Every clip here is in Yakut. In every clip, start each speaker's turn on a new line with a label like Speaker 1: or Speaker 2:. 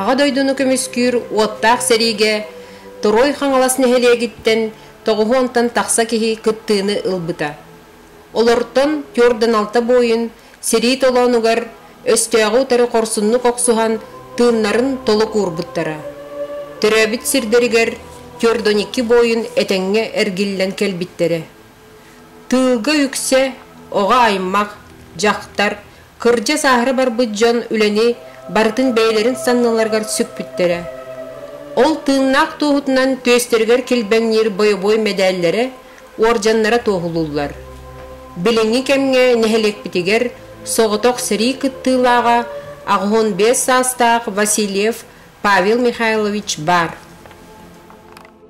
Speaker 1: Аҕа дойдуну көмүскүүр уоттаах сэриигэ Туруой Хаҥалас нэһилиэгиттэн тоҕуһу онтон тахса киһи кыттыыны ылбыта. Олортон түөрдэн алта буойун сэрии толоонугар өстөөҕү утары хорсуннук охсуһан тыыннарын толук уурбуттара. Төрөөбүт сирдэригэр түөрдэн икки буойун этэҥҥэ эргиллэн кэлбиттэрэ. Тыылга үксэ оҕо аймах, дьахтар, Кырдьа сааһыра барбыт дьон үлэни барытын бэйэлэрин санныларыгар сүкпүттэрэ. Ол тыыннаах туоһутунан түөстэригэр килбэҥниир бойобуой мэдээллэрэ, уордьаннара туоһулууллар. Билиҥҥи кэмҥэ нэһилиэкпитигэр соҕотох сэрии кыттыылааҕа аҕыһон биэс саастаах Васильев Павел Михайлович баар.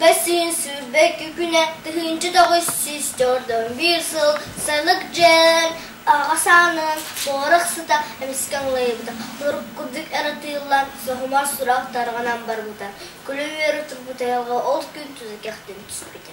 Speaker 1: Кэсиин сүүрбэки күнэ тыһыынча тоҕус сүүс төрдөн биир сыл Сэмик дьэн аҕа саанын боорох сыта эмискэ ылайбыта урут курдук ырытыыллан соһумар сурах тарҕанан барбыта күлэ үөрэ турбут айылҕа ол күн туту кэхтэн түспүтэ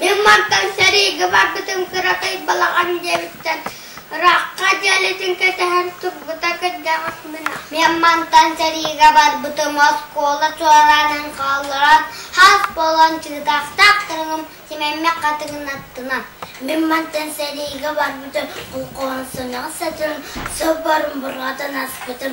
Speaker 1: Мин мантан сэриигэ барбытым кыракый балаҕан дьиэбиттэн ыраахха дьиэлитин кэтэһэн турбута кырдьаҕас мына. Мин мантан сэриигэ барбытым оскуола туораанын хаалларан хас буолан чыытаахтаахтарым симэммэ хатыгынаттынан. Мин мантан сэриигэ барбытым олхоһонсоноҕо сытын сылбарын бурҕатын аспытым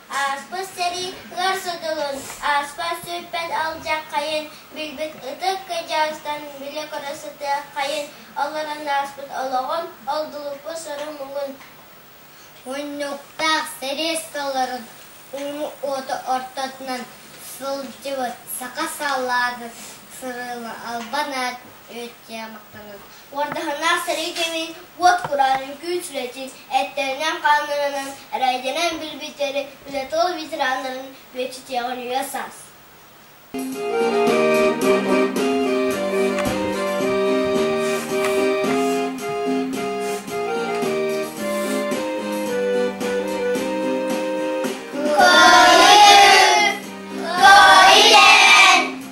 Speaker 1: Ааспыт сэрии ыар сутулун, ааспат сүүрпэт алдьархайын, билбит ытык кыдьаастан билэ көрө сытыаххайын, олорон ааспыт олоҕум, олдулуппут сору-муҥун, муннуктаах сэрээскэлэрин ууну уоту ортотунан сылдьыбыт саха салаатын сырыыга албан аат үөскээн махтанабын Уордаһыннаах сэрии кэмин уот кураан үҥкүү үчүгэйин эттэринэн-хааннарынан эрэйдэнэн билбиттэри үлэтол ветераннарын үөччүтүөҕүн үйэ-саас.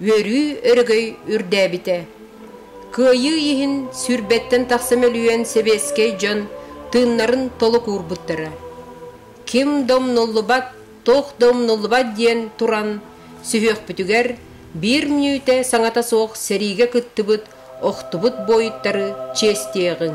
Speaker 1: үөрүү өрөгөй үрдээбитэ. Кыайыы иһин сүүрбэттэн тахса мөлүйүөн сэбиэскэй дьон тыыннарын толук уурбуттара. Ким да умнуллубат, туох да умнуллубат диэн туран сүһүөхпүтүгэр биир мүнүүтэ саҥата суох сэриигэ кыттыбыт охтубут буойуттары чиэстиэҕиҥ.